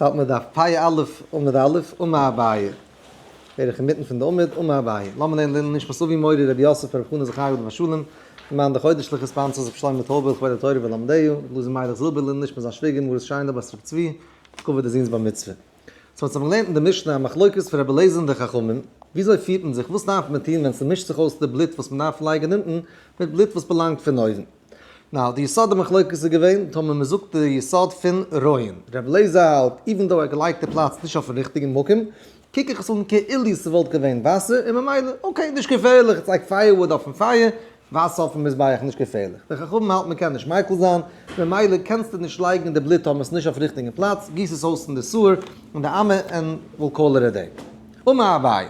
ס'האלט מען דארף פאיע א' עמוד א' און מה הבעיה בערך אינמיטן פון די עמוד און מה הבעיה לאמיר לערנען לעילוי נשמת אבי מורי רבי יוסף רבי חנא זכריהו עליו השלום למען די חודש'ליכע ספאנסארס רבי שלמה טויבער לכבוד התורה ולומדיה רבי לוזי מיילעך זילבער לעילוי נשמת זיין שוויגער מרת שיינא בת רבי צבי כבוד די זוהן'ס בר מצוה. סאו אונז האבן געלערנט אין די משנה א מחלוקת פון רבי אליעזר און די חכמים, וויאזוי פירט מען זיך, וואס דארף מען טון ווען ס'מישט זיך אויס די בלוט וואס מ'דארף לייגן אונטן מיט בלוט וואס באלאנגט פון אויבן. נאר די יסוד המחלוקת איז געווען טאמער מען זאגט די יסוד פון ראיין. רב לעזער האלט איווען דאו ער געלייגט די פלאץ נישט אויפן ריכטיגן מקום, קוק איך עס אן כאילו ס'וואלט געווען וואסער און ממילא אקעי נישט געפערליך איך לייג פייער וואוד אויפן פייער, וואסער אויפן מזבח נישט געפערליך. די חכמים האלטן מען קען נישט מיקל זיין, ממילא קענסטו נישט לייגן די בלוט טאמער ס'נישט אויף ריכטיגן פלאץ, גיס עס אויס אין די סוער און די עמי ען וויל קאלער איט דעי. ומה אביי?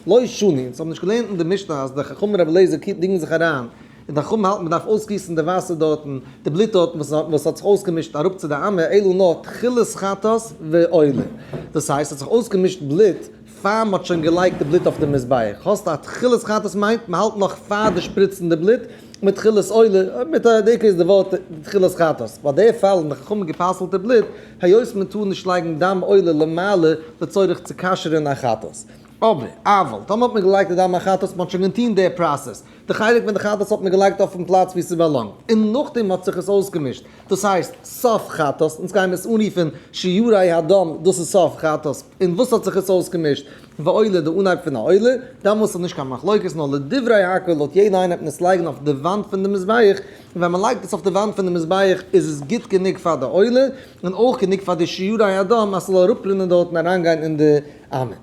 לא שנים, זיי האבן נישט געלערנט אין די משנה אז די חכם רבי אליעזר קיט דינגן זיך אריין, און די חכמים האלטן מען דארף אויסגיסן די וואסער דארטן, די בלוט דארטן וואס האט זיך אויסגעמישט אראפ צו די עמי אלא נאר תחילת חטאת ועולה, דאס הייסט ס'האט זיך אויסגעמישט בלוט פאר מ'האט שוין געלייגט די בלוט אויף די מזבח, האסט א תחילת חטאת מיינט מ'האלט נאך פאר די שפריצן די בלוט, מיט תחילת עולה, מיט א דעיקא איז די ווארט תחילת חטאת, ביי די פאל האבן די חכמים גע'פסל'ט די בלוט היות מען טאר נישט לייגן דם עולה למעלה לצורך צו כשר'ן א חטאת. אבער, אבל, טאמער האט מען געלייגט די דם החטאת, מען האט שוין געטוהן די פראסעס, די חלק פון די חטאת האט מען געלייגט אויפן פלאץ ווי ס'באלאנגט, און נאכדעם האט זיך עס אויסגעמישט, דאס הייסט סוף חטאת, אונז גייען עס אנרופן שיעורי הדם, דאס איז סוף חטאת, און וואס האט זיך עס אויסגעמישט? ועולה, די אנהייב פון א עולה, דאמאלס איז נישט קיין מחלוקת, נאר לדברי הק' לויט יעדע איינער וועט מען עס לייגן אויף די וואנט פון די מזבח, און ווען מען לייגט עס אויף די וואנט פון די מזבח איז עס גוט גענוג פאר די עולה, און אויך גענוג פאר די שיעורי אדום אז ס'זאל אראפרינען דארט און אריינגיין אין די עמוד.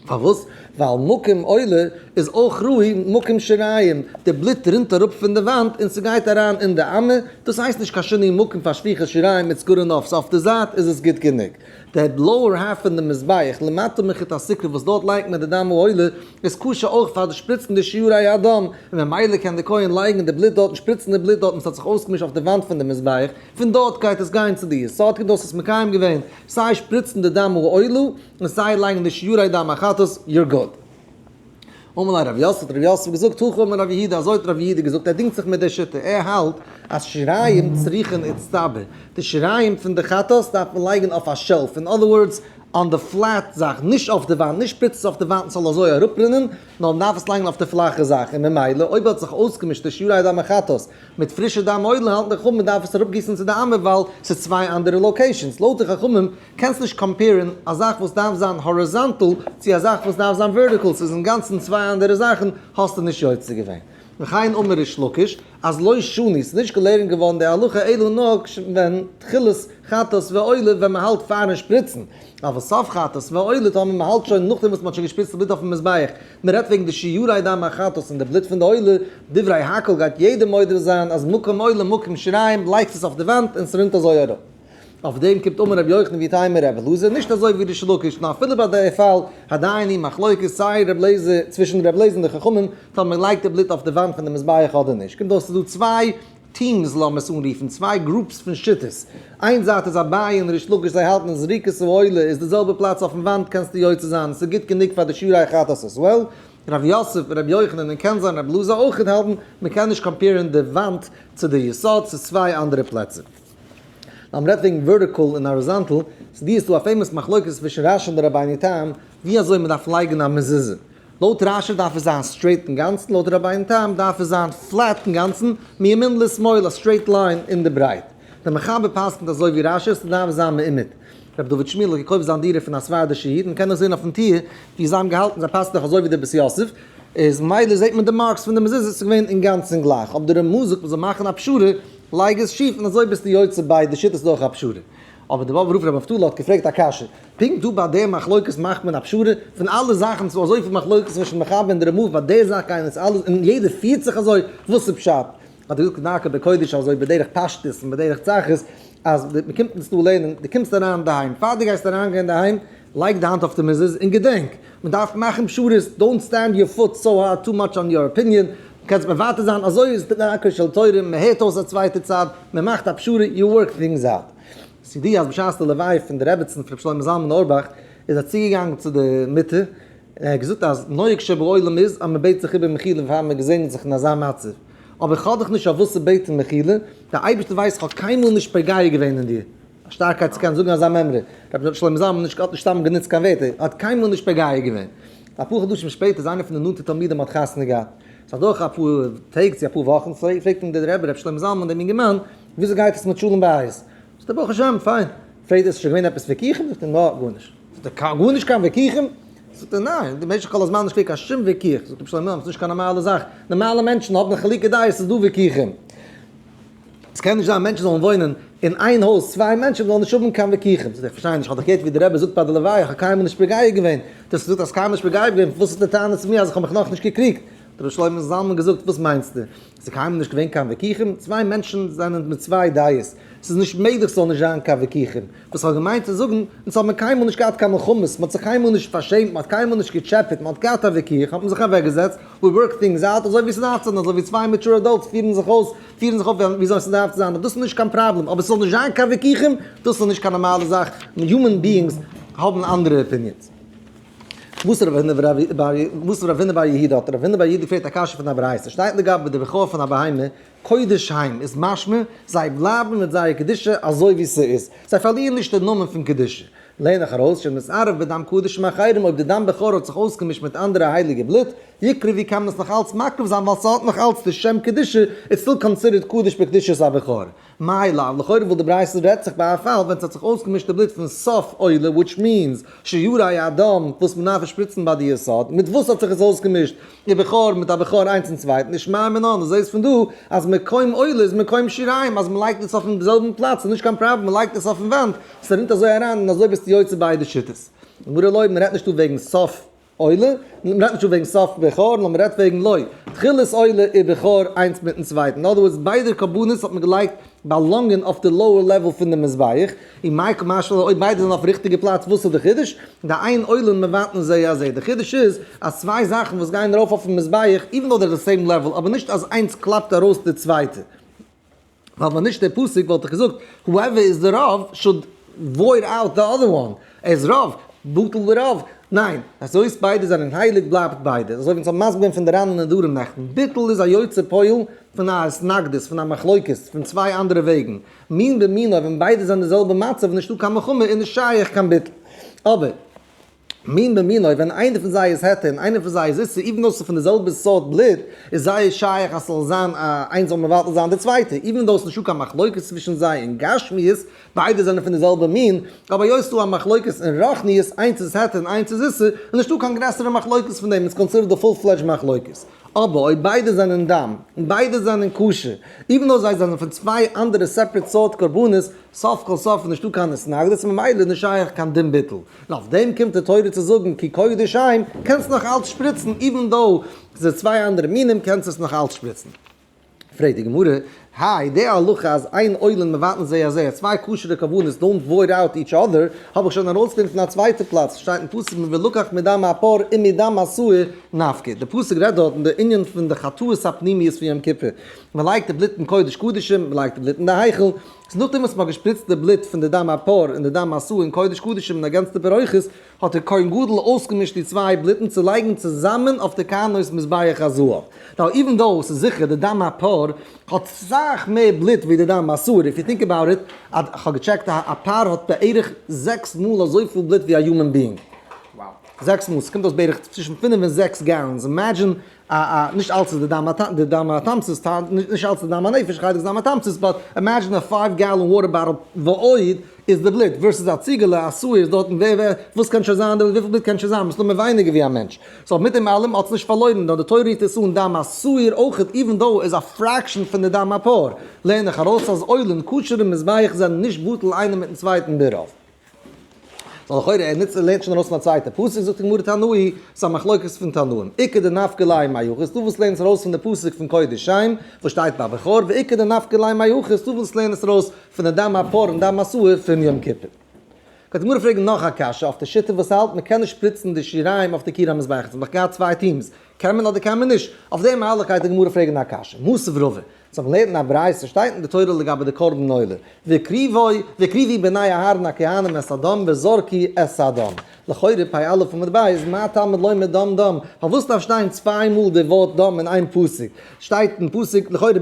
פארוואס? ווייל מקום עולה איז אויך ראי' מקום שיריים, די בלוט רינט אראפ פון די וואנט און ס'גייט אריין אין די עמוד, דאס הייסט נישט קיין שינוי מקום פאר שפיכת שיריים מיט סגור און אויף סוף די זייט איז עס גוט גענוג. דער בלויער האר פון די מזבח למטה מחוט הסוכה וואס דארט לייגט מען די דם העולה איז כשר אויך פאר די שפריצן די שיעורי הדם, און ממילא קען די כהן לייגן די בלוט דארט און שפריצן די בלוט דארט וואס האט זיך אויסגעמישט אויף די וואנט פון די מזבח, פון דארט גייט עס גיין צו די יסוד כדי דו האסט עס מקיים געווען, סיי שפריצן די דם העולה און סיי לייגן די שיעורי דם החטאת, יור גוד. אמר ליה רב יוסף, האט רב יוסף געזאגט, הכה אמר רב יהודה, אזוי האט רב יהודה געזאגט, ער דינגט זיך מיט די שיטה, ער האלט אז שיריים צריכין איצטבר, די שיריים פון די חטאת דארף מען לייגן אויף א שעלף, אין אדער ווארדס, אן די פלעט זאך, נישט אויף די וואנט, נישט שפריצן עס אויף די וואנט און ס'זאל אזוי אראפרינען, נאר מען דארף עס לייגן אויף די פלאכע זאך, און ממילא אויב האט זיך אויסגעמישט די שיריי דם החטאת מיט פרישע דם עולל האלטן די חכמים מען דארף עס אראפגיסן צו די עמוד ווייל ס'איז צוויי אנדערע לאקעישאנס, לויט די חכמים קענסט נישט קאמפעירן א זאך וואס דארף זיין האריזאנטעל צו א זאך וואס דארף זיין ווערטיקעל ס'איז אינגאנצן צוויי אנדערע זאכן האסטו נישט יוצא געווען וכן אמר ריש לקיש אז לא שני ס'איז נישט געלערנט געווארן די הלכה אלא נאר כש ווען תחילת חטאת ועולה ווען מ'האלט פארן שפריצן אבער סוף חטאת ועולה טאמער מ'האלט שוין נאכדעם וואס מ'האט שוין געשפריצט די בלוט אויפן מזבח מ'רעדט וועגן די שיעורי דם החטאת און די בלוט פון די עולה דברי הק' גייט יעדער מודה זיין אז מקום עולה מקום שריים לייגסט עס אויף די וואנט און ס'רינט אזוי אראפ. אויף דעם קומט אָן רבי יוחנן ווי טיימער רבי אלעזר, נישט אזוי ווי ריש לקיש, נאר אפילו ביי די ערפל הדיינים מחלוקת סיי רבי אלעזר צווישן רבי אלעזר און די חכמים טאר מען לייגט די בלוט אויף די וואנט פון די מזבח אדער נישט, קומט אויס ס'איז דא צוויי טיעמס לאמיר עס אנרופן, צוויי גרופס פון שיטות, איין זייט איז אביי און ריש לקיש זיי האלטן אז זריקת העולה איז די זעלבע פלאץ אויפן וואנט קענסטו יוצא זיין און ס'איז גוט גענוג פאר די שיעורי החתס עס וועל, רבי יוסף, רבי יוחנן און קען זיין רבי אלעזר אויך האלטן מען קען נישט קאמפעירן די וואנט צו די יסוד ס'איז צוויי אנדערע פלעצער. מען רעדט וועגן ווערטיקאל און האריזאנטל, צו די איז דא א פעימאס מחלוקת צווישן רשי און די רבני תם ווי אזוי מען דארף לייגן א מזוזה. לויט רשי דארף עס זיין סטרעיט אינגאנצן, לויט די רבני תם דארף עס זיין פלעט אינגאנצן, מימין לשמאל, א סטרעיט ליין אין די ברייט. דער מחבר פסק'נט אזוי ווי רשי, עס דארף זיין מעומד. רבי דוד שמיעל האט געקויפט זיין דירה פון א ספרדישע איד, מען קען עס זען אויפן טיר ווי זיי האבן געהאלטן, זיי פאסן דאך אזוי ווי די בית יוסף, איז ממילא זעט מען די מארקס פון די מזוזה, עס איז געווען אינגאנצן גלייך, אבער דער רמ א זאגט מען זאל מאכן א פשרה לייג עס שיף און אזוי ביסטו יוצא ביי די שיטות דורך א פשרה. אבער די באבוב רב ר' נפתלי האט געפרעגט א קשיא, פונקט דא ביי די מחלוקת מאכט מען א פשרה? פון אלע זאכן ס'איז דא אזויפיל מחלוקת צווישן מחבר און די רמב ם ביי די זאך גייען אונז אלע און יעדער פירט זיך אזוי, וואס איז פשט? האט ער געזאגט כדרכו בקודש אזוי בדרך פשטות און בדרך צחות אז מ'קומט אונז דא לערנען, דו קומסט אריין אינדערהיים, פאר דו גייסט אריינגיין אינדערהיים לייג די האנט אויף די מיזעלס און געדענק, מען דארף מאכן פשרות, דאונט סטענד יור פוט סאו הארד טו מאטש אן יור אפיניען, דו קענסט מוותר זיין, אזוי איז דרכו של תורה, מען הערט אויס א צווייטע צד, מען מאכט א פשרה, יו ווארק טינגס אוט. ס'ידוע אז בשעת די לוויה פון די רעבעצן פון ר' שלמה זלמן אוירבאך איז ער צוגעגאנגען צו די מיטה און ער האט געזאגט אז נוהג שבעולם איז אז מען בעט זיך איבער מחילה פאר מען געזעגנט זיך אין אזא מצב, אבער איך האב דיך נישט אויף וואס צו בעטן מחילה, דער אייבערשטער ווייסט איך האב קיינמאל נישט פוגע געווען אין דיר. א שטארקייט צו קענען זאגן אזא מימרא. רבי שלמה זלמן נישט האט נישט סתם גענוצט קיין ווערטער, ער האט קיינמאל נישט פגע געווען. אפאר חדשים שפעטער איז איינער פון די נאנטע תלמידים האט חתונה געהאט. עס איז אדורך אפאר טעג צו אפאר וואכן צוויי, פרעגט אים דער רבי רבי שלמה זלמן דעם אינגערמאן, וויאזוי גייט עס מיט שלום בית? זאגט ער ברוך השם פיין. פרעגט ער איז שוין געווען עפעס ויכוחים? זאגט ער נא, גארנישט. זאגט ער קיין גארנישט קיין ויכוחים? זאגט ער ניין, במשך כל הזמן נישט געווען קיין שום ויכוח. זאגט רבי שלמה זלמן ס'איז נישט קיין נארמאלע זאך, נארמאלע מענטשן האבן חילוקי דעות, ס'איז דא ויכוחים. עס קען נישט זיין מענטשן זאלן וואוינען אין איין הויז צוויי מענטשן זאלן נישט האבן קיין וויכוחים, איך פארשטיי נישט, איך האב דאך געהערט ווי די רבי זאגט ביי די לוויה, איך האב קיינמאל נישט מגיב געווען, דו האסט געזאגט אז קיינמאל נישט מגיב געווען, וואס איז די טענה צו מיר אז איך האב מיך נאכנישט געקריגט? האט רבי שלמה זלמן געזאגט, וואס מיינסטו? עס איז קיינמאל נישט געווען קיין וויכוחים, צוויי מענטשן זענען מיט צוויי דעות, עס איז נישט מעגליך ס'זאל נישט זיין קיין וויכוחים, וואס איך האב געמיינט צו זאגן, אונז האט מען קיינמאל נישט געהאט קיין מלחמות, מ'האט זיך קיינמאל נישט פארשעמט, מ'האט קיינמאל נישט געטשעפעט, מ'האט געהאט א וויכוח האט מען זיך אוועקגעזעצט, ווי ווארק טינגס אוט, אזוי ווי ס'דארף צו זיין, אזוי ווי צוויי מעטשור עדאלטס פירן זיך אויס, פירן זיך אויף וויאזוי ס'דארף צו זיין, דאס איז נישט קיין פראבלעם, אבער ס'זאל נישט זיין קיין וויכוחים, דאס איז נישט קיין נארמאלע זאך, יומען ביאינגס האבן אנדערע אפיניענס. וואס רב הונא בר יהודה האט רב הונא בר יהודה געפרעגט א קשיא פון א ברייתא, שטייט לגבי די בכור פון א בהמה, קודש היים איז משמע, זיי בלייבן מיט זייער קדושה אזוי ווי ס'איז, זיי פארלירן נישט דעם נאמען פון קדושה. לערן איך ארויס, שנתערב בדם קדש מאחרים, אויב די דם בכור האט זיך אויסגעמישט מיט אנדערע הייליגע בלוט, יקרה ווי קען מען עס נאך אלץ מקריב זיין ווייל ס'האט נאך אלץ די שם קדושה, איז סטיל קאנסידערט קדוש בקדושת הבכור. מאי לאו, לכאורה וויל די ברייתא רעדט זיך ביי א פאל ווען ס'האט זיך אויסגעמישט די בלוט פון סוף עולה וויטש מיענס שיורי הדם וואס מ'דארף שפריצן ביי די יסוד, מיט וואס האט זיך עס אויסגעמישט? די בכור מיט א בכור איינס צום צווייטן, נישט מיין מנין, דו זעסט פון דא אז מקום עולה איז מקום שיריים, אז מ'לייגט עס אויפן זעלבן פלאץ איז נישט קיין פראבלעם, מ'לייגט עס אויפן וואנט, ס'רינט אזוי אריין און אזוי ביסטו יוצא ביידע שיטות. גברא לוי, מ'רעדט נישט דא וועגן סוף עולה, מ'רעדט נישט דא וועגן סוף בכור, נאר מ'רעדט וועגן לוי, תחילת עולה איז בכור איינס מיטן צווייטן, אין אדער ווארדס ביידע קרבנות האט מען געלייגט באלאנגען אויף די לאוער לעוועל פון די מזבח, און מאי קא משמע לן אויב ביידע זענען אויפן ריכטיגע פלאץ וואס איז די חידוש? די איין עולין מבטלין זה הזה, די חידוש איז אז צוויי זאכן וואס גייען ארויף אויפן מזבח איווען דאו זיי די סעים לעוועל אבער נישט אז איינס קלאפט ארויס די צווייטע, ווייל ווען נישט די פסוק וואלט איך געזאגט whoever is the rav should void out the other one. ער איז רוב, בטל ורוב, ניין, אז היות ביידע זענען הייליג בלייבט ביידע, אזוי ווי אונז האבן מסביר געווען פון די רן און נדרים נעכטן, בטל איז א יוצא פועל פון א התנגדות, פון א מחלוקת, פון צוויי אנדערע וועגן, מין במינו, ווען ביידע זענען די זעלבע מצב איז נישטא קיין מלחמה איז נישט שייך קיין בטל, אבער מין במינו ווען איינער פון זיי איז העטה און איינער פון זיי איז איסור איוון דאס איז פון די זעלבע סארט בלוט איז זייער שייך אז ס'זאל זיין א איינס זאל מבטל זיין די צווייטע איוון דאו ס'נישטא קיין מחלוקת צווישן זיי אין גשמיות ביידע זענען פון די זעלבע מין, אבער היות ס'איז דא א מחלוקת אין רוחניות, איינס איז העכער און איינס איז זיסער, איז נישטא קיין גרעסערע מחלוקת פון דעם, איז קאנסידערט די פול פלעדזש מחלוקת. אבער אויב ביידע זענען דם, און ביידע זענען כשר, איווען דאו זיי זענען פון צוויי אנדערע סעפערעט סארט קרבנות, סוף כל סוף איז נישטא קיין התנגדות, ממילא איז נישט שייך קיין דין ביטול. און אויף דעם קומט די תורה צו זאגן כי קודש הם, קענסט נאך אלץ שפריצן, איווען דאו ס'איז צוויי אנדערע מינים, קענסט עס נאך אלץ שפריצן. פרעגט די גמרא, האי די הלכה אז איין עולם מבטל זה הזה, אז צוויי כשר'ע כוונות דאונט וואויד אוט איטש אדער, האב איך שוין ארויסגענומען פון א צווייטע פלאץ, עס שטייט אין פסוק מ ולקח מדם העפר און מדם השעיר נפקד, די פסוק רעדט דארט אין די ענין פון די חטאות הפנימיות פון יום כיפור, מען לייגט די בלוט אין קודש קדשים, מען לייגט די בלוט אין די היכל, איז נאכדעם וואס מען האט געשפריצט די בלוט פון די דם העפר און די דם השעיר אין קודש קדשים און אגענצט די ברכות, האט דער כהן גדול אויסגעמישט די צוויי בלוטן צו לייגן צוזאמען אויף דער קרנות מזבח הזהב, ווייל איווען דאו ס'איז זיכער די דם הפר האט סאך מער בלוט ווי די דם האסור, איף יו טינק אבאוט איט, כ'האב געטשעקט א פר האט בערך זעקס מאל אזויפיל בלוט ווי א יומען ביאינג, זעקס מאל, ס'קומט אויס בערך צווישן פינף און זעקס גאלאנס, אימעדזשין א א נישט אלץ איז די דם א די דם א טעם צו סטארט נישט אלץ די דם א נפש חלק דם א טעם צו ספארט אימעדזשין א פייוו גאלאן וואטער באטעל ועוד איז די בלוט ווערסעס א ציגעלע א סוער איז דארטן ווער ווער וואס קען שוין זיין די וויפיל בלוט קען שוין זיין מ'איז נאר מען ווייניגער ווי א מענטש סאו מיט דעם אלעם האטס נישט פארלוירן נאר די תורה רופט עס אן דם א סוער אויכעט איווען דאו איז א פרעקשען פון די דם א פאר לערן איך ארויס אז אויל און כשר'ע מזבח זענען נישט בטל איינער מיטן צווייטן ברוב סא לכאורה ער נוצט ער לערנט שוין ארויס פון א צווייטע פסוק זאגט די גמרא תנאי סא מחלוקת פון תנאים עיקר די נפק ל מה יוחס דו ווילסט לערנען עס ארויס פון די פסוק פון קדשים וואס שטייט ביי בכור ועיקר די נפק ל מה יוחס דו ווילסט לערנען עס ארויס פון די דם הפר און דם הסוהר פון יום כיפור. קען די גמרא פרעגן נאך א קשיא אויף די שיטה וואס האלט מען קען נישט שפריצן די שיריים אויף די קיר המזבח עס האט דאך געהאט צוויי טומס קען מען אדער קען מען נישט אויף די מהלך גייט די גמרא פרעגן א קשיא מוסף רבה זיך לערנען א ברייתא, עס שטייט אין די תורה לגבי די קרבן עולה, והקריבו והקריבי בני אהרן הכהנים את הדם וזרקי את הדם, לכאורה פ א עמוד ב, איז מה תלמוד לומר דם דם, פארוואס דארף שטיין צוויי מאל די ווארט דם אין איין פסוק, שטייט אין פסוק לכאורה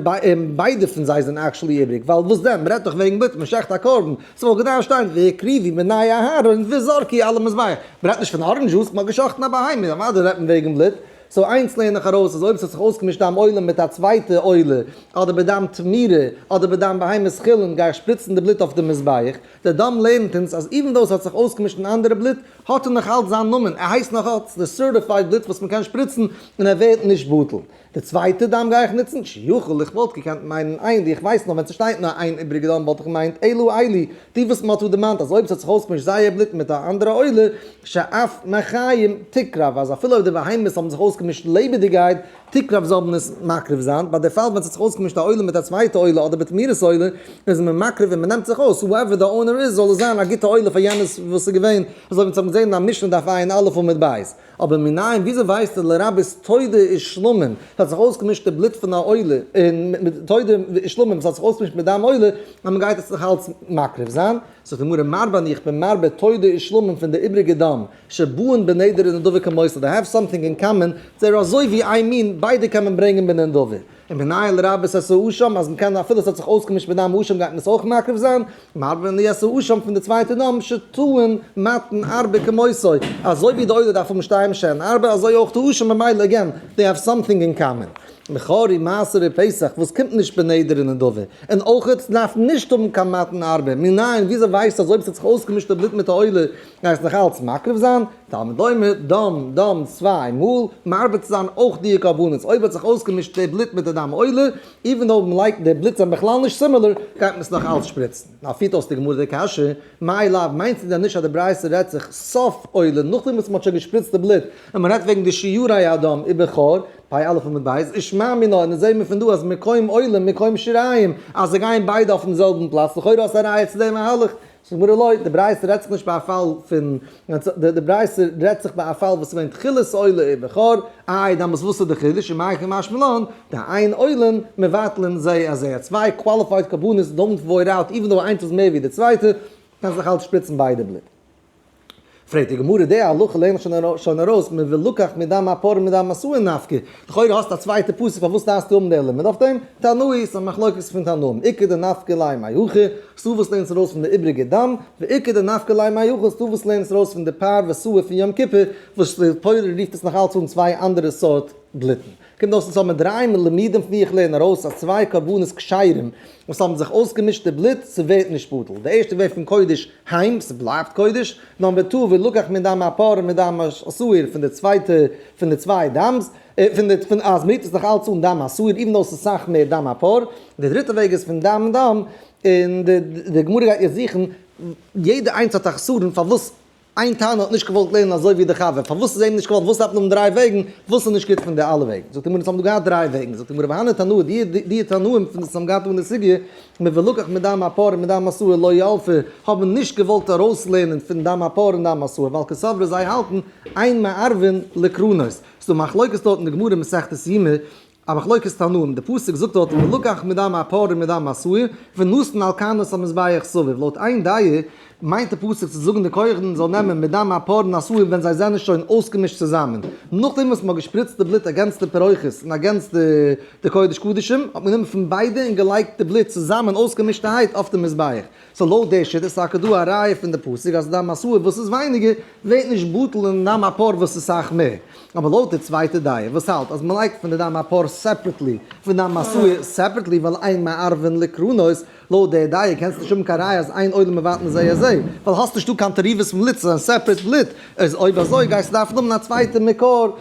ביידע פון זיי זענען עקשעלי איבריג, ווייל וואס דען, מען רעדט דאך וועגן בעת מען שעכט א קרבן, סאו וואלט געדארפט שטיין והקריבי בני אהרן וזרקי על המזבח, מען רעדט נישט פון ארענדזש דזשוס, מען האט געשאכטן א בהמה, אוודאי רעדט מען וועגן בלוט. סאו איינס לערן איך ארויס אז אויב ס'האט זיך אויסגעמישט דיין עולה מיט א צווייטע עולה, אדער ביי דיין תמירה, אדער ביי דיין בהמות חולין גיי איך שפריצן די בלוט אויף די מזבח, די דאם לערנט אונז אז איווען דאו ס'האט זיך אויסגעמישט אין אנדערע בלוט, האט ער נאכאלץ זיין נאמען, ער הייסט נאכאלץ די סערטיפייד בלוט וואס מ'קען שפריצן און ער ווערט נישט בטל. די צווייטע דאם גיי איך נוצן שיכול איך וואלט געקענט מיינען עילי איך ווייס נאר ווען ס'שטייט נאר איין איבריגע דאם וואלט איך געמיינט עילא עילי די וואס מען האט דא דערמאנט אז אויב עס האט זיך אויסגעמישט זייער בלוט מיט א אנדערע עולה ש אף מי חיים תקרב אז אפילו אויב די בהמות האבן זיך אויסגעמישט לעבעדיגייט תקרב זאל מען עס מקריב זיין, ביי די פאל ווען עס האט זיך אויסגעמישט א עולה מיט א צווייטע עולה אדער בתמירת עולה איז מען מקריב און מען נעמט זיך אויס הואעווער די אונער איז זאל עס זיין א גוטע עולה פאר יענער וואס איז געווען. אזוי ווי אונז האבן געזען אין א משנה דף עיין א' עמוד ב'. אבער מנין, וויאזוי ווייסטו לרבות תודה איז שלמים, עס האט זיך אויסגעמישט די בלוט פון א עולה, און תודה איז שלמים, עס האט זיך אויסגעמישט מיט דם עולה, אז מען גייט עס זיך אלץ מקריב זיין? זאגט די גמרא מרבה אני איך בין מרבה תודה איז שלמים פון די איבריגע דם, שבועין בנדרי נדבי כמוסד, they have something in common, זיי אר אזוי ווי איין מין, ביידע קען מען ברענגען בנדבי. און מנהל רב'ס עשה אשם אז מ'קען אפילו עס האט זיך אויסגעמישט מיט דיין אשם גייט מען עס אויך מקריב זיין, מרבין לי עשה אשם פון די צווייטע נאמ ש טוען מתן ארבה כמותו, אזוי ווי די עולה דארף האבן שתיים שאין ארבה אזוי אויך די אשם ממילא עגעין דעי העוו סאמטינג אין קאמען. מכרי מעשרה פסח וואס קומט נישט בין נדר און נדבה, און אויך עטס דארפן נישט האבן קיין מתן ארבה, מנין וויאזוי ווייסטו אז אויב עס האט זיך אויסגעמישט די בלוט מיט די עולה גייסט נאכאלץ מקריב זיין? תלמוד לומר, דם, דם, צוויי מאל, מרבה צו זיין אויך דיע קרבנות, אויב האט זיך אויסגעמישט די בלוט מיט די דם עולה, איווען אויב מען לייגט די בלוט זענען בכלל נישט סימילער, גייט מען עס נאך אלץ שפריצן. נאר פירט אויס די גמרא די קשיא, מאי לאו, מיינסטו דען נישט אז די ברייתא רעדט זיך סוף עולה, נאכדעם וואס מען האט שוין געשפריצט די בלוט, און מען רעדט וועגן די שיעורי הדם איבער חור, פאי א' עמוד ב', איז שמע מינה, און עס זעהן מיר פון דא אז מקום עולה און מקום שיריים, אז זיי גייען ביידע אויפן זעלבן פלאץ, לכאורה האסטו א ראיה צו די מהלך, ס'גמרא לא, די ברייתא רעדט זיך נישט ביי א פאל פון, די ברייתא רעדט זיך ביי א פאל וואס איז געווען תכלת עולה איז בכור, איי דאמאלס וואס איז די חידוש, ומאי הכי משמע לן, די איין עולין מבטלין זה את זה, צוויי קוואליפייד קרבנות דאונט וועיר אוט, איווען דאו איינס איז מער ווי די צווייטע, קענסט נאך אלץ שפריצן ביידע בלוט. פרעגט די גמרא די הלכה לערנט מען שוין ארויס מען וויל לקח מדם הפר' מדם מסור נפקא, לכאורה האסטו א צווייטע פסק פארוואס דארפסטו האבן די לימוד אויף דעם, תנאי ס'א מחלוקת פון תנאים עיקר די נפקא ליה מאי הכי, ס'דא וואס לערנט עס ארויס פון די איבריגע דם, ועיקר די נפקא ליה מאי הכי, ס'דא וואס לערנט עס ארויס פון די פר וסור פון יום כיפור, וואס די תורה רופט עס נאך אלץ אן צוויי אנדערע סארט בלוטן. קומט אויס עס האבן דריי מלמידים פון ווי איך לערן ארויס אז צוויי קרבנות כשרים וואס האבן זיך אויסגעמישט די בלוט ס'ווערט נישט בטל, די ערשטע ווערט פון קודש היים ס'בלייבט קודש, נאמבער טו ולקח מדם הפרא מדם השעיר פון די צווייטע פון די צוויי דם'ס פון די פון אז מ'רירט עס נאך אלץ אן דם השעיר איווען דאו ס'איז סאך מער דם הפרא, די דריטע וועג איז פון דם דם און די גמרא גייט יעצט זוכן יעדע איינס האט א חסרון פארוואס איין תנא האט נישט געוואלט לערנען אזוי ווי די חבר, פארוואס איז אים נישט געוואלט, וואס דארף מען האבן דריי וועגן, וואס איז נישט גוט פון די אלע וועגן, זאגט די גמרא עס האבן דא געהאט דריי וועגן, זאגט די גמרא והנה תנא די די תנאים פון וואס עס האבן געהאט אן די סוגיא, מבלקח מדם הפר און מדם מסור לא ילפו, האבן נישט געוואלט ארויס לערנען פון דם הפר און דם מסור, ווייל כסברא זיי האלטן אין מערבין לקרנות, ס'איז דא מחלוקת דארט אין די גמרא מסכת יומא, א מחלוקת תנאים, די פסוק זאגט דארט ולקח מדם העפר ומדם העשוי ונתן על כנוס המזבח סביב, לויט איין דעה מיינט די פסוק צו זאגן די קרחן זאל נעמען מדם העפר און העשוי ווען זיי זענען שוין אויסגעמישט צוזאמען, נאכדעם וואס מען האט געשפריצט די בלוט אגענס די פירות און אגענס די קודש קדשים, האט מען גענומען פון ביידע און געלייגט די בלוט צוזאמען אויסגעמישטערהייט אויף די מזבח. סאו לויט די שיטה איז טאקע דא א ראיה פון די פסוק אז אדם עשוי וואס איז ווייניגער ווערט נישט בטל און אדם הפאר וואס איז סאך מער, אבער לויט די צווייטע דעה וואס האלט אז מען לייגט פון די אדם הפאר סעפערעטלי פון אדם עשוי סעפערעטלי ווייל אין מערבין לקרנות, לויט די דעה קענסטו נישט האבן קיין ראיה אז איין עולם מבטל און זיי אזוי, ווייל האסט נישטא קיין תערובות פון בלוט, ס'איז א סעפערעט בלוט, איז אויב אזוי גייסטו דארפן האבן א צווייטע מקור.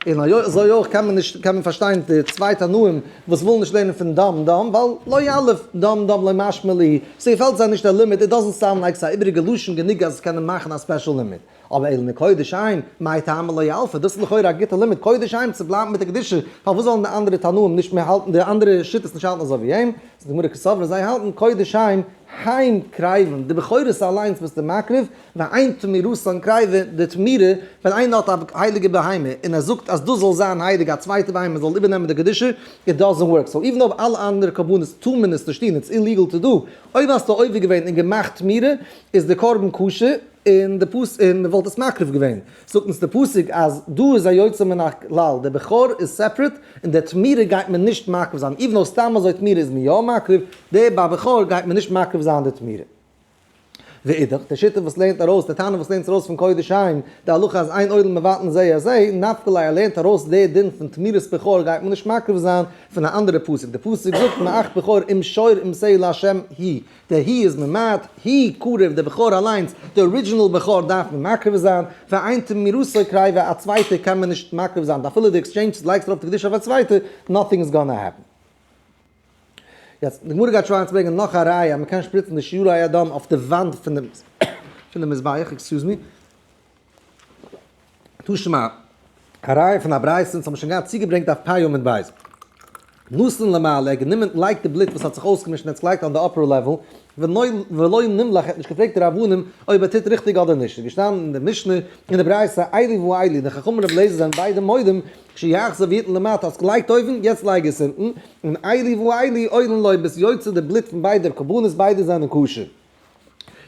און אזוי אויך קען מען נישט קען מען פארשטיין די צוויי תנאים וואס ווילן נישט לערנען פון דאם דאם ווייל לא יעלב דאם דאם לא משמע לי ס'געפעלט זיי נישט דער לימוד איט דאזענט סאונד לייקס א איבריגע לשון גענוג אז עס קענען מאכן א ספעשל לימוד אבער אילני קודש עיין מאי טעמא לא יעלפא דאס איז לכאורה א גוטע לימוד קודש עיין צו בלייבן מיט די קדושה פארוואס זאלן די אנדערע תנאים נישט מער האלטן די אנדערע שיטות נישט האלטן אזוי ווי אים איז די גמרא כסברא זיי האלטן קודש עיין היים קרעיוון די בכורות אליינס ביסטו מקריב ואין תמירותא אין קרייווע, די תמירה ווען איינער האט א הייליגע בהמה און ער זאגט אז דאס זאל זיין הייליג א צווייטע בהמה זאל איבערנעמען די קדושה, איט דאזענט ווארק, סאו איווען אויב אלע אנדערע קרבנות טאר מען עס נישט טון איטס איליגעל טו דו, אויב האסטו עובר געווען און געמאכט תמירה איז די קרבן כשר און די פאס און מען וואלט עס מקריב געווען, זאגט אונז די פסוק אז דא איז א יוצא מן הכלל, די בכור איז סעפרעט און די תמירה גייט מען נישט מקריב זיין, איווען אויב סתם אזוי תמירה איז מען יא מקריב, די ביי בכור גייט מען נישט מקריב זיין די תמירה. ואידך, די שיטה וואס לערנט ארויס, די טענה וואס לערנט ארויס פון קודש עין, די הלכה אז אין עולם מבטלין זה את זה, נפק ל ער לערנט ארויס די דין פון תמירת בכור גייט מען נישט מקריב זיין, פון א אנדערע פסוק, די פסוק זאגט מעכת בכור אם שור אם שעיר לה' היא, די היא איז ממעט, היא קרוב, די בכור אליינס, די ארידזשינעל בכור דארף מען מקריב זיין, ואין תמירתו קריבה, א צווייטע קען מען נישט מקריב זיין, אפילו די עקסטשעינדזש לייגסט ארויף די קדושה אויף א צווייטע, נאטינג איז גאנא העפן. יעצט, די גמרא גייט שוין היינט ברענגען נאך א ראיה אז מ'קען שפריצן די שיעורי היי אדם אויף די וואנט פון די מזבח, עקסקיוז מי, תשמ א, א ראיה פון א ברייתא, אונז האבן שוין געהאט צוגעברענגט אויף פ י עמוד ב', נאסן למעלה, ער האט גענומען, לייגט די בלוט וואס האט זיך אויסגעמישט און עטס לייגט אן די אפער לעוועל, ולא נמלך, ער האט נישט געפרעגט די רבנים אויב ער טוט ריכטיג אדער נישט, ס'איז געשטאנען אין די משנה, אין די ברייתא, איילי ואיילי, די חכמים רבי אליעזר זענען ביידע מודים שיהח סערווירטן למטה, האסט געלייגט אויבן, יעצט לייג עס אונטן, און איילי ואיילי אוילן לוי' ביסט יוצא די בלוט פון ביידער קרבנות ביידע זענען כשר.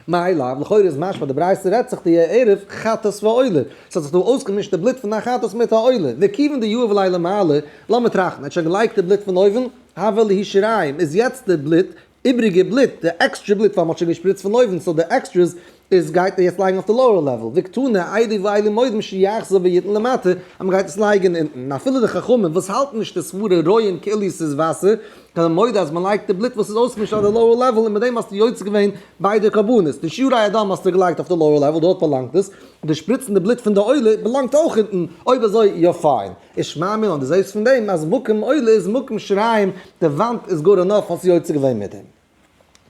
מאי לאו, לכאורה איז משמע די ברייתא רעדט זיך די ערב חטאת ועולה, ס'האט זיך דא אויסגעמישט די בלוט פון א חטאת מיט א עולה, וכיוון די יאור ולילה מעלה, לאמיר טראכטן, ער האט שוין געלייגט די בלוט פון אויבן, הווה לישריים איז יעצט די בלוט איבריגע בלוט, די עקסטרע בלוט ווייל מען האט שוין געשפריצט פון אויבן סאו די עקסטרעס איז גייט מען יעצט לייגן אויף די לאוער לעוועל, ווי קטני איידי ואיילי מודים שיאחזו ויתן למטה אז מען גייט עס לייגן אונטן, און אפילו די חכמים וואס האלטן נישט די סברה רואים כאילו ס'איז וואסער זענען מודה אז מען לייגט די בלוט וואס איז אויסגעמישט אויף די לאוער לעוועל און מיט דעם האסטו יוצא געווען ביידע קרבנות, די שיעורי הדם האסטו געלייגט אויף די לאוער לעוועל דארט באלאנגט עס, און די שפריצן די בלוט פון די עולה באלאנגט אויך אונטן, אויב אזוי יא פיין. איש מאמין און דו זעסט פון דעם אז מקום עולה איז מקום שריים, די וואנט איז גאר ענאף האסטו יוצא געווען מיט דעם.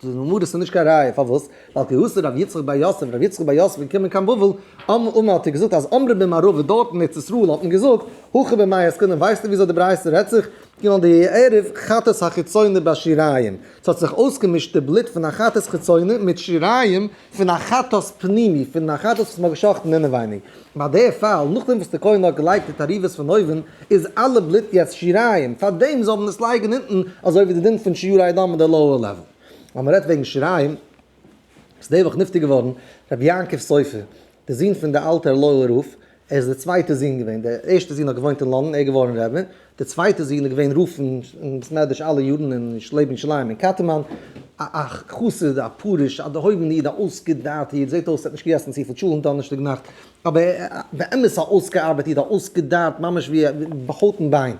דאס איז ממארס און נישט קיין ראיה פארוואס, ווייל כ ה השר רבי יצחק בר יוסף, רבי יצחק בר יוסף איז געקומען קיין בבל, אמ מ האט ער געזאגט אז אמרו במערבה דארט אין ארץ ישראל האט מען געזאגט, הכי במאי עסקן און ווייסטו וויאזוי די ברייתא רעדט זיך, כאילו די ערב חטאת החיצוני בשיריים, ס'האט זיך אויסגעמישט די בלוט פון א חטאת חיצוני מיט שיריים, פון א חטאת פנימי, פון א חטאת וואס מ'האט גע'שחט'ן אינעווייניג. ביי די פאל, נאכדעם וואס די כהן האט געלייגט די תערובות פון אויבן, איז אלע בלוט יעצט שיריים, פארדעם זאל מען עס לייגן אונטן, אזוי ווי די דין פון שיעורי הדם אין די לאוער לעוועל. אז מ'רעדט וועגן שיריים, איז די וואך נפטר געווארן רבי יעקב סופר, די זון פון די אלטע ערלוי'ער רב, ער איז דער צווייטער זון געווען, דער ערשטער זון האט געוואוינט אין לאנדאן, ער איז געווארן רבי, דער צווייטער זון איז געווען רב פון בית מדרש אלע יארן און איז לעבן ירושלים אין קאטערמאן, א א חסיד, א פרוש, א דערהויבענער איד, א אויסגעדארטער איד, זעט אויס ער האט נישט געגעסן צופיל טשולענט דאנערשטאג נאכט, אבער באמת א אויסגעארבעט איד, א אויסגעדארט ממש ווי ביי הויט און ביין.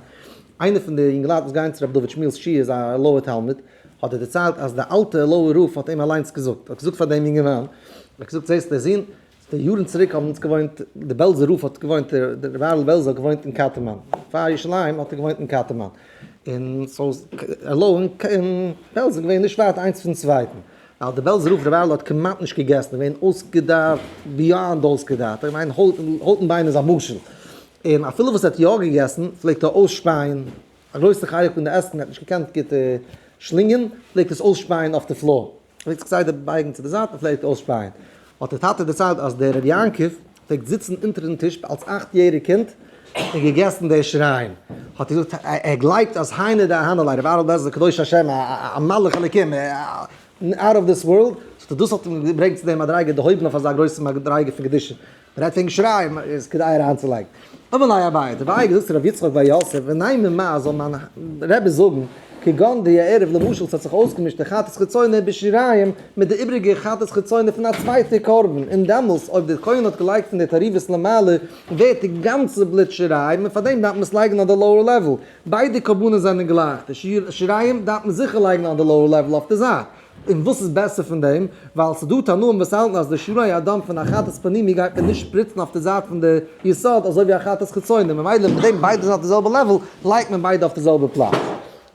איינער פון די יונגעלייט וואס גייען צו רבי דוד שמואל'ס שיעור איז א ערלוי'ער תלמיד, האט ער דערציילט אז דער אלטער ערלוי'ער רב האט אים אליינס געזאגט, ער האט געזאגט פאר דעם יונגערמאן, ער האט געזאגט זעסט דער זון, יארן צוריק האבן אונז געוואוינט, די בעלזער רב האט געוואוינט, דער רבי אהרן בעלזער האט געוואוינט אין קאטערמאן, פאר ירושלים האט ער געוואוינט אין קאטערמאן, און סאו אלא און בעלז איז געווען נישט ווייט איינס פון צווייטן, ווייל דער בעלזער רב רבי אהרן האט כמעט נישט געגעסן, ער איז געווען אויסגעדארט ביאנד אויסגעדארט, איך מיין הויט און ביין איז א משל, און אפילו וואס ער האט יא געגעסן פלעגט ער אויסשפייען, א גרויסע חלק פון די עסן ער האט נישט געקענט גוט שלינגען, פלעגט עס אויסשפייען אויף די פלאר, פלעגט זיך כסדר בייגן צו די זייט און פלעגט אויסשפייען. האט איר טאטע דערציילט אז דער ר' יעקב פלעגט זיצן אונטערן טיש אלס אכט יעריג קינד און געגעסן די שריים. האט איר געזאגט ער גלייבט אז היינו די אהנע ליה ר' אהרן בעלזער קדוש השם א מלאך אלקים אוט אוו דיס ווארלד. זאגט ער דאס האט אים געברענגט צו די מדריגה דערהויבן אויף אזא גרויסע מדריגה פון קדושה רעדט פון שרייבן איז כדאי אריינצולייגן. אמר לי אביי, די ווייל געזאגט רבי יצחק בר יוסף, וניי ממאי זאל מיין רבי זאגן, כגון די הערב למשל ס'האט זיך אויסגעמישט די חטאת חיצונה בשיריים מיט די איבריגע חטאת חיצונה פון א צווייטע קרבן, און דעמאלס אויב די כהן האט געלייגט פון די תערובות למעלה ווערט די גאנצע בלוט שיריים און פארדעם דארף מען עס לייגן אויף די לאוער לעוועל, ביידע קרבנות זענען גלייך, די שיריים דארף מען זיכער לייגן אויף די לאוער לעוועל אויף די זייט. און וואס איז בעסער פון דעם, ווייל ס'דא תנאים וואס האלטן אז די שרוי הדם פון א חטאת פנימי גייט מען נישט שפריצן אויף די זייט פון די יסוד אזוי ווי א חטאת חיצוני, ממילא מיט דעם ביידע זענען אויף די זעלבע לעוועל, לייגט מען ביידע אויף די זעלבע פלאץ.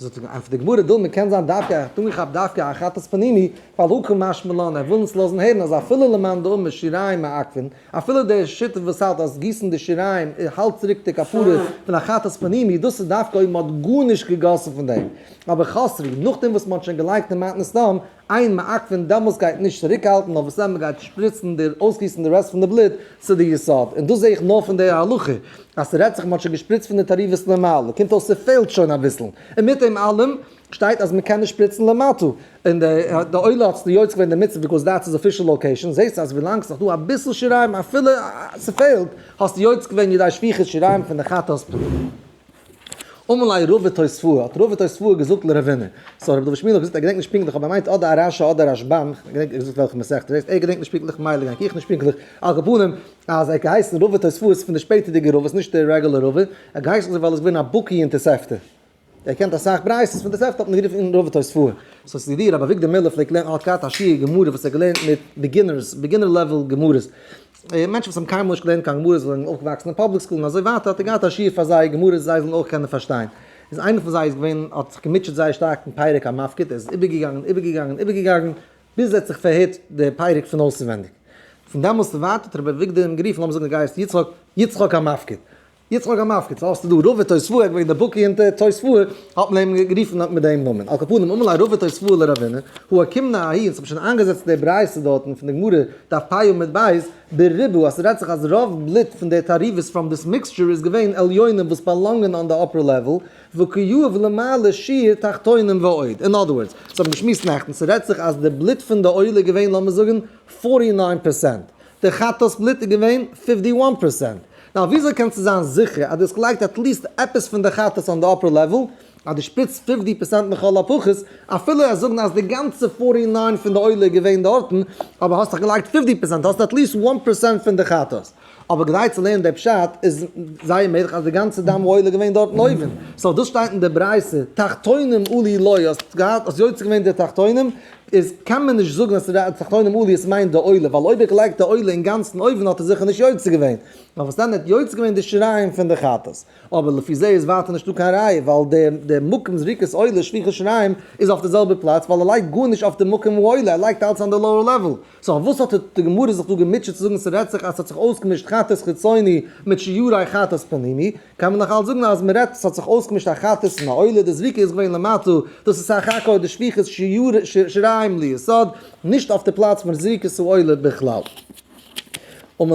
ענטפערט די גמרא, דילמה קען זיין דווקא, ער האט אנגעכאפט דווקא א חטאת פנימי, ווייל הכא משמע לן ער וויל אונז לאזן הערן אז אפילו למאן דאמר שיריים מעכבין, אפילו דער שותף וואס האלט אז גיסן די שיריים האלט צוריק די כפרה פון א חטאת פנימי, דאס איז דווקא אויב מ'האט גארנישט געגאסן פון דעם, אבער חסר היא נאכדעם וואס מ'האט שוין געלייגט אין מתנת סדום איין מעקפין דעמאלס גייט נישט צוריקהאלטן נאר וואס עמער גייט שפריצן די אויסגיסן די רעסט פון די בלוט צו די יסוד, און דאס זעה איך נאר פון די הלכה אז ס'רעדט זיך מ'האט שוין געשפריצט פון די תערובות למעלה, קומט אויס ס'פעלט שוין אביסל, און מיט דעם אלעם שטייט אז מ'קען נישט שפריצן למטה, און די עולה האט זיך יוצא געווען דערמיט ביקאוז דעטס איז אפישעל לאקעישאן, זעסט אז ווילאנג ס'איז נאך דא אביסל שיריים אפילו ס'פעלט, האסטו יוצא געווען ידי שפיכת שיריים פון די חת ס פנים. אמאל א רב ותוספוה האט רב ותוספוה געזאגט לרבינו, סאו רבי דוד שמואל האט געזאגט ער געדענקט נישט פונקטליך אבער ער מיינט אדער א רשי אדער א רשבם, איך געדענק נישט געזאגט וועלכע מסכת ס'איז, ער געדענקט נישט פונקטליך מילא געדענק איך נישט פונקטליך, על כל פנים אז ער האט געהייסן רב ותוספוה איז פון די שפעטערדיגע רביס נישט די רעגולער רבי, ער האט געהייסן אזוי ווייל ער איז געווען א בקי אין תוספתא. ער קענט אסאך בריית'עס פון תוספתא האט מען גערופן אין רוב תוס' פוה. סאו ס'איז ווי ר' אביגדור מיללער פלעגט לערנען האט געהאט א שיעור גמרא וואס ער האט געלערנט מיט ביגינערס, ביגינער לעוועל גמרות. מענטשן וואס האבן קיינמאל נישט געלערנט קיין גמרות זיי זענען אויפגעוואקסן אין פאבליק סקול און אזוי ווייטער האט ער געהאט א שיעור פאר זיי גמרות זיי זאלן אויך קענען פארשטיין. איז איינער פון זיי איז געווען האט זיך געמוטשעט זייער שטארק מיט פרק המפקד ער איז איבערגעגאנגען איבערגעגאנגען איבערגעגאנגען ביז ער האט זיך פארהערט די פרק פון אויסערווענדיג. פון דעמאלס און ווייטער האט ר' אביגדור אים גערופן לאמיר זאגן דו גייסט יצחק יצחק המפקד. יעצט מאך א מפקד, סאו האסטו דא רובע תוספוה, ער איז געווען דער בקי אין תוספוה, האט מען אים גערופן מיט דעם נאמען, על כל פנים אמאל א רובע תוספוה לראווינא, הוא הקים נא אהי, און ס'האט מען שוין איינגעזעצט די ברייתא דארטן פון די גמרא, דף פ י עמוד ב', בריבו, אז ס'רעדט זיך אז רוב בלוט פון די תערובות פראם דיס מיקסטשער איז געווען עליונים וואס באלאנגען אן די אפער לעוועל, וקיוב למעלה שיעור תחתונים ועוד, אין אדער ווארדס, ס'האט מען געשמועסט נעכטן, ס'רעדט זיך אז די בלוט פון די עולה איז געווען לאמיר זאגן פארטי ניין פערסענט, די חטא'ס בלוט איז געווען פיפטי וואן פערסענט. נאו וויאזוי קענסטו זיין זיכער אז דו האסט געלייגט עטליסט עפעס פון די חטאת אן די אפער לעוועל, אז דו שפיצט פיפטי פערסענט לכל הפחות, אפילו עס זאגן אז די גאנצע פארטי ניין פון די עולה איז געווען דארטן, אבער האסט דאך געלייגט פיפטי פערסענט, האסט עטליסט וואן פערסענט פון די חטאת. אבער כדי צו לערנען די פשט איז זייער מעגליך אז די גאנצע דם העולה איז געווען דארטן אויבן, סאו דאס שטייט אין די ברייתא תחתונים עלי לוי, האסט געהאט, האסט יוצא געווען די תחתונים, איז קען מען נישט זאגן אז ס'איז די תחתונים עליות עס מיינט די עולה, ווייל אויב איך לייג די עולה אינגאנצן אויבן האט ער זיכער נישט יוצא געווען, נאר וואס דען ער האט יוצא געווען די שריים פון די חטאת, אבער לפי זה איז ווייטער נישטא קיין ראיה ווייל די די מקום זריקת עולה שפיכת שריים איז אויף די זעלבע פלאץ ווייל ער לייגט גארנישט אויף די מקום העולה ער לייגט אלץ אן די לאוער לעוועל, סא אויף וואס האט די גמרא זיך דא געמוטשעט צו זאגן ס'רעדט זיך אז ס'האט זיך אויסגעמישט חטאת חיצוני מיט שיעורי חטאת פנימי, קען מען נאך אלץ זאגן אז מען רעדט ס'האט זיך אויסגעמישט א חתס און א עולה, די זריקה איז געווען למטה, דאס איז סך הכל די שפיכת שיריים ליסוד, נישט אויף די פלאץ פון זריקת העולה בכלל. און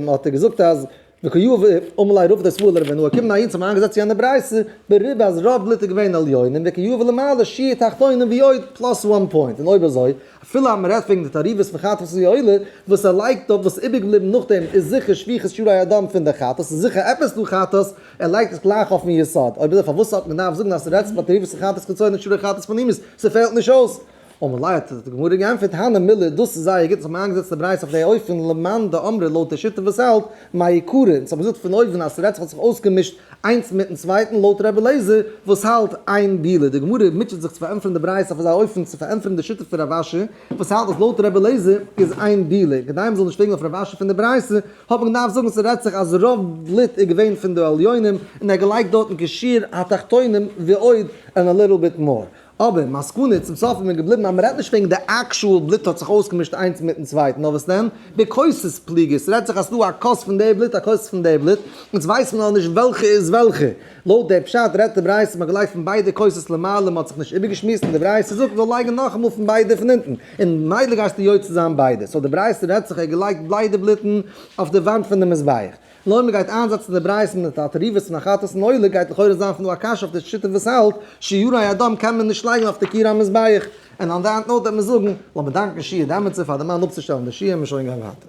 האט ער געזאגט אז וכיוו ע ומלאי רוב דאס וואלער ווען נאר קומען אהין צו מיין געזעץ יענע ברייתא בריבו אז רוב בלוט איז געווען עליונים וכיוו ע למעלה שיעור תחתונים ועוד פלאס וואן פוינט און אויב אזוי אפילו אז מ'רעדט וועגן די תערובות פון חטאת און עולה וואס ער לייגט אויף וואס איבערגעבליבן נאכדעם איז זיכער שפיכות שרעי הדם פון די חטאת איז זיכער עפעס דא חטאת, ער לייגט עס גלייך אויפן יסוד, אויב אזוי פארוואס האט מען געדארפט זאגן אז ס'רעדט זיך פון תערובות פון חטאת קצוין און שרעי חטאת פון אימת ס'פעלט נישט אויס? ומלאי האט די גמרא גענטפערט הנה מילא דאס איז זייער גוט אז מ'האט איינגעזעצט די ברייתא אויף די אופן למאן דאמרי לויט די שיטה וואס האלט מהאי קרא און ס'האט מען געזאגט פון אויבן אז ס'רעדט זיך האט זיך אויסגעמישט איינס מיטן צווייטן לויט רבי אליעזר וואס האלט אין בילה די גמרא מוטשעט זיך צו פארענטפערן די ברייתא אויף אזא אופן צו פארענטפערן די שיטה פון רב אשי וואס האלט אז לויט רבי אליעזר איז אין בילה כדי מ'זאל נישט פרעגן אויף רב אשי פון די ברייתא האט מען געדארפט זאגן ס'רעדט זיך אז רוב בלוט איז געווען פון די עליונים און ער האט געלייגט דארטן כשיר התחתונים ועוד and a little bit more אבער, מסקנא, צום סוף איז מען געבליבן אז מ'רעדט נישט וועגן די עקשועל בלוט האט זיך אויסגעמישט איינס מיטן צווייטן, נאר וואס דען? די כוסות פליגער, ס'רעדט זיך אז ס'דא א כוס פון די בלוט א כוס פון די בלוט, אונז ווייסן נאר נישט וועלכע איז וועלכע. לויט די פשט רעדט די ברייתא מ'האט געלייגט פון ביידע כוסות למעלה און מ'האט זיך נישט איבערגעשמועסט און די ברייתא זאגט מ'זאל לייגן נאכאמאל פון ביידע פון אונטן און ממילא גייסטו יוצא זיין ביידע, סאו די ברייתא רעדט זיך ער האט געלייגט בליידע בלוטן אויף די וואנט פון די מזבח. לויט מען גייט איינזעצן די ברייתא מיט א תערובת פון א חטאת און עולה גייט לכאורה זיין פון דא א קשיא אויף די שיטה וואס האלט שיעורי הדם קען מען נישט לייגן אויף די קיר המזבח און אן דעט נאוט וועט מען זאגן לאמיר דאנקן שיעור די עמיצער פאר די מים אפצושטעלן די שיעור און מ'שוין גיין ווייטער.